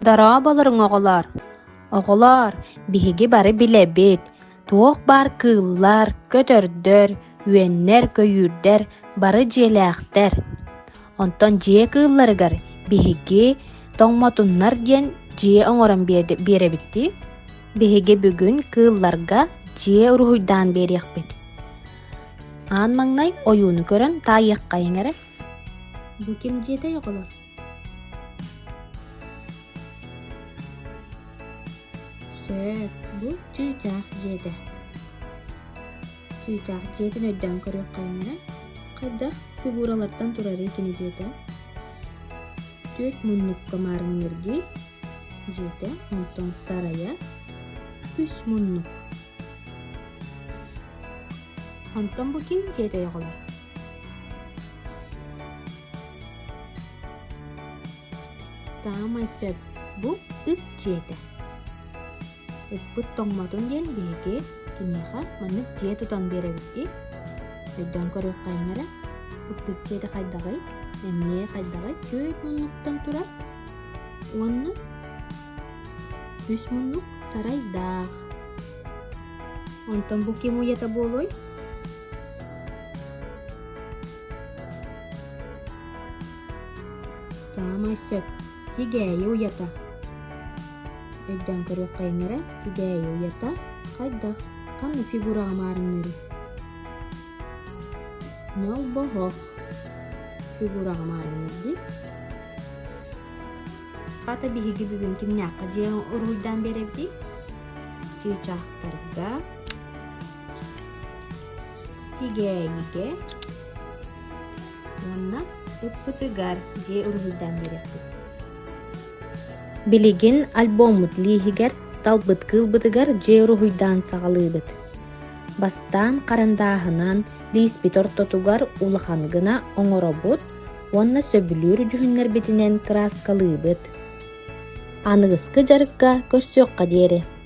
Дорооболоруҥ, оҕолоор! Оҕолоор, биһиги бары билэбит, туох баар кыыллар, көтөрдөр, үөннэр-көйүүрдэр бары дьиэлээхтэр. Онтон дьиэ кыылларыгар биһиги тоҥмотуннар диэн дьиэ оҥорон биэрэбит дии. Биһиги бүгүн кыылларга дьиэ уруһуйдаан биэриэхпит. аан маҥнай ойууну көрөн таайыаххайыҥ эрэ бу ким дьиэтэй оҕолор сөп бу чыычаах дьиэтэ чыычаах дьиэтин өйдөөн көрүөххэйиҥ эрэ хайдах фигуралартан турарый кини дьиэтэ түөрт муннукка маарынныыр дии дьиэтэ онтон сарайа үс муннук Онтон бу ким дьиэтэй оҕолор? Саамай сөп бу ыт дьиэтэ. Ыппыт тоҥмотун диэн биһиги киниэхэ маннык дьиэ тутан биэрэбит дии. Өйдөөн көрүөххэйин эрэ, ыппыт дьиэтэ хайдаҕый, эмиэ хайдаҕый күөт муннуктан турар. Уонна Үс муннук сарайдаах. Онтон бу ким уйата буолуой? Саамай сөп. Тигээйи уйата. Өйдөөн көрүөххэйиҥ эрэ. Тигээйи уйата хайдах? Ханна фигураҕа маарынныырый? Нолбоһох. Фигураҕа маарынныыр дии. Хата биһиги бүгүн кимнээххэ дьиэ уруйдаан биэрэбитий? Чыычахтарга, тигээнигэ уонна ыппытыгар дьиэ уруһуйдаан биэрэппит. Билигин альбоммут лииһигэр талбыт кыылбытыгар дьиэ уруһуйдаан саҕалыыбыт. Бастаан харандааһынан лииспит ортотугар улахан гына оҥоробут, уонна сөбүлүүр дьүһүннэрбитинэн кырааскалыыбыт. Аныгыскы дьарыкка көрсүөххэ диэри